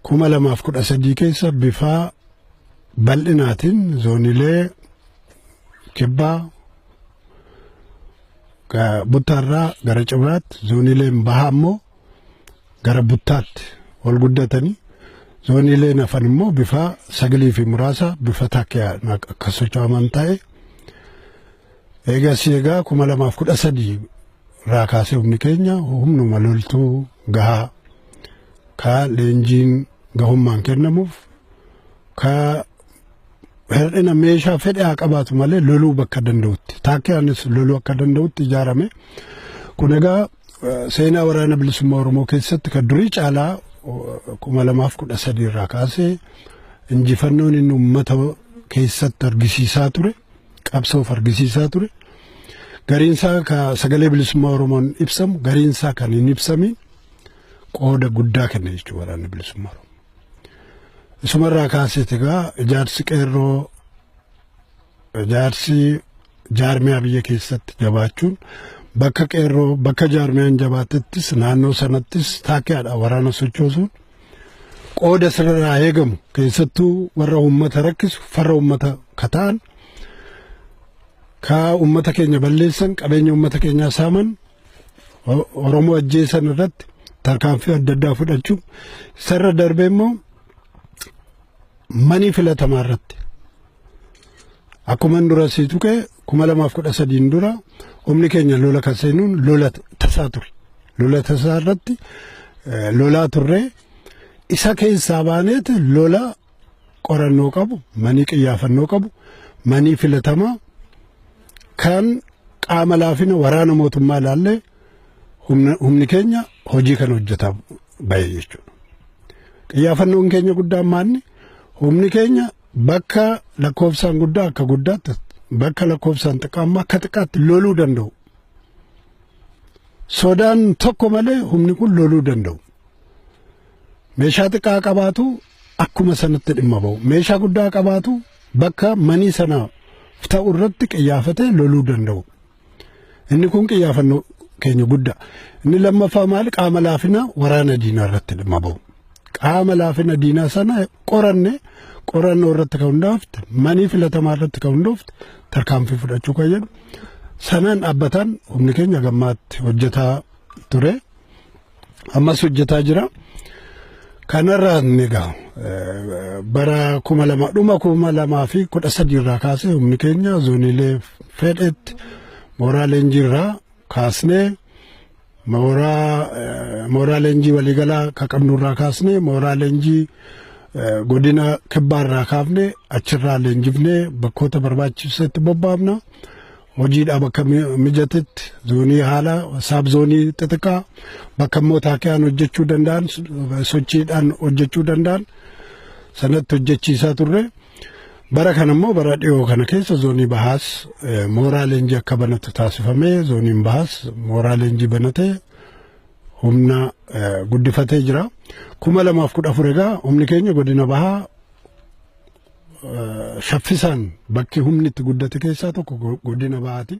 kuma lamaaf kudha sadii keessa bifaa bal'inaatiin zoonilee kibbaa buttaarraa gara cibraatti zoonileen bahaa immoo gara buttaatti ol guddatanii zoonileen hafan immoo bifaa sagalii fi muraasa bifa takkaan akka socho'aman ta'e. Eegasii egaa kuma lamaaf kudha sadii irraa kaasee humni keenya humnuma loltuu gahaa ka leenjiin gahummaan kennamuuf ka hir'ina meeshaa fedhe haa qabaatu malee loluu bakka danda'utti taakkiyaanis loluu akka danda'utti ijaarame kun egaa seenaa waraana bilisummaa Oromoo keessatti kan durii caalaa kuma lamaaf kudha sadii irraa kaasee injifannoon inni uummata keessatti argisiisaa ture. qabsoof argisiisaa ture. Gariinsaa ka sagalee bilisummaa Oromoon ibsamu gariinsaa kan hin ibsamiin qooda guddaa kenna jechuudha waraanni bilisummaa Oromoo. Isumarraa kaaseeti egaa ijaarsi qeerroo ijaarsi jaarmiyaa biyya keessatti jabaachuun bakka qeerroo bakka jaarmiyaan jabaatettis naannoo sanattis taakkiyaadha waraana sochoosuun qooda sirraa eegamu keessattuu warra uummata rakkisu farra uummata kataan kaa uummata keenya balleessan qabeenya uummata keenyaa saaman Oromoo ajjeesan irratti tarkaanfii adda addaa fudhachuu isarra darbee immoo manii filatamaa irratti Akkuman dura sii tuqe kuma lamaaf kudha sadiin dura humni keenya lola kan seenuun lola tasaa ture. Lola tasaa irratti eh, lolaa turre isa keessaa baaneet lola qorannoo qabu, manii qiyyaafannoo qabu, manii filatamaa kan qaama laafina waraana mootummaa ilaallee humna- humni keenya hojii kana hojjetaa bahe jechuudha. Qiyyaafannoon keenya guddaan maanni humni keenya Bakka lakkoofsaan guddaa akka guddaatti, bakka lakkoofsaan xiqqaa immoo akka xiqqaatti loluu danda'u. Sodaan tokko malee humni kun loluu danda'u. Meeshaa xiqqaa qabaatu akkuma sanatti dhimma ba'u. Meeshaa guddaa qabaatu bakka manii sanaaf ta'u irratti qiyyaafatee loluu danda'u. Inni kun qiyyaafannoo keenya guddaa. Inni lammaffaa maal qaama laafina waraana diinaa irratti dhimma bahu. Qaama laafina diinaa sana qoranne qorannoo irratti kan hundaafte manii filatamaa irratti kan hundoofte tarkaanfii fudhachuu kan jedhu sanaan dhaabbataan humni keenya gammaatti hojjetaa ture. ammas hojjetaa jira. Kanarraa egaa bara kuma lama dhuma kuma lamaa fi kudha sadii irraa kaasee humni keenya zooniilee fedhetti mooraa leenjii irraa kaasnee mooraa mooraa leenjii waliigalaa ka qabnu irraa kaasnee mooraa leenjii godina kibbaa irraa kaafne achirraa leenjifnee bakkoota barbaachisetti bobbaafna. hojiidhaa bakka mijatetti zoonii haala saab zoonii xixiqqaa bakka immoo taakiyaan hojjechuu danda'an sochiidhaan hojjechuu danda'an sanatti hojjechiisaa turre. Bara kana immoo bara dhiyoo kana keessa zoonii bahaas mooraa leenjii akka banatu taasifamee zooniin bahaas mooraa leenjii banatee humna guddifatee jira. Kuma lamaaf kudha afur egaa humni keenya godina bahaa saffisaan bakki humni itti guddate keessaa tokko godina bahaati.